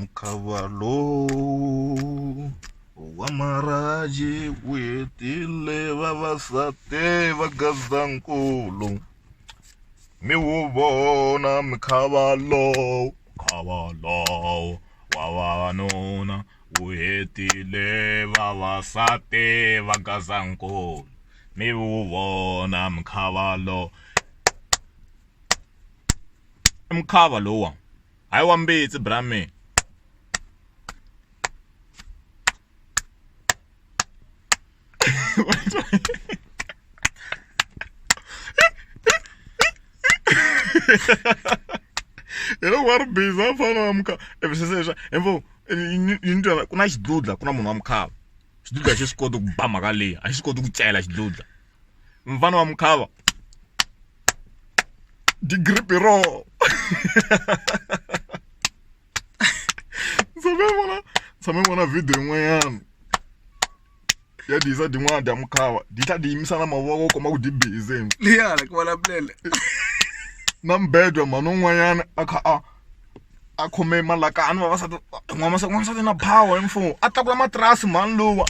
mukava lowu wa maraji wu hetile vavasati va gazankulu mi wu vona mukava lowu mukava lowu wa vavanuna wu hetile vavasati va gazankulu mi wu vona mukava lowu i mukava lowa Hi wa mbitsi bra mina. hi loko wa ri busy a fana wa mukhava evi sese leswa embo yi ni twa ku na xidludla ku na munhu wa mukhava xidludla a xi swi koti ku ba mhaka leyi a xi swi koti ku cela xidludla mfana wa mukhava degree bureau tshame vona tshame vona video yin'wanyana ya diyisa din'wana dya mukhava di tlha di yimisa na mavoko u kuma ku di bize liyana ku vulavulele na mbedwa mhani un'wanyana a kha a a khome malakani vavasati n'wamasati n'wansati na power hi mfumo a tlakula matirasi mhani luwa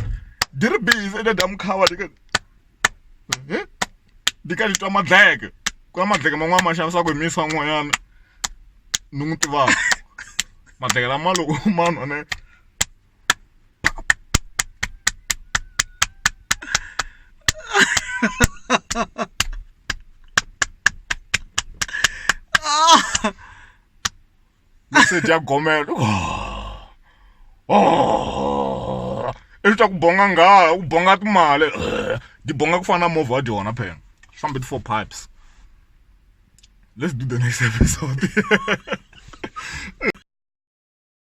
di ri bize i ta dya mukhava ni ka ni twa madleke ku na madleke man'wani ma xanisaka hi misi van'wanyana ni n'wi tivaka madleke lama loko ma nwa ni message ya gomela oh i swa ku bonga nghala u bonga timali di bonga ku fana na movha wa dyona phela swi fambe ti-four pipes let's do the next episode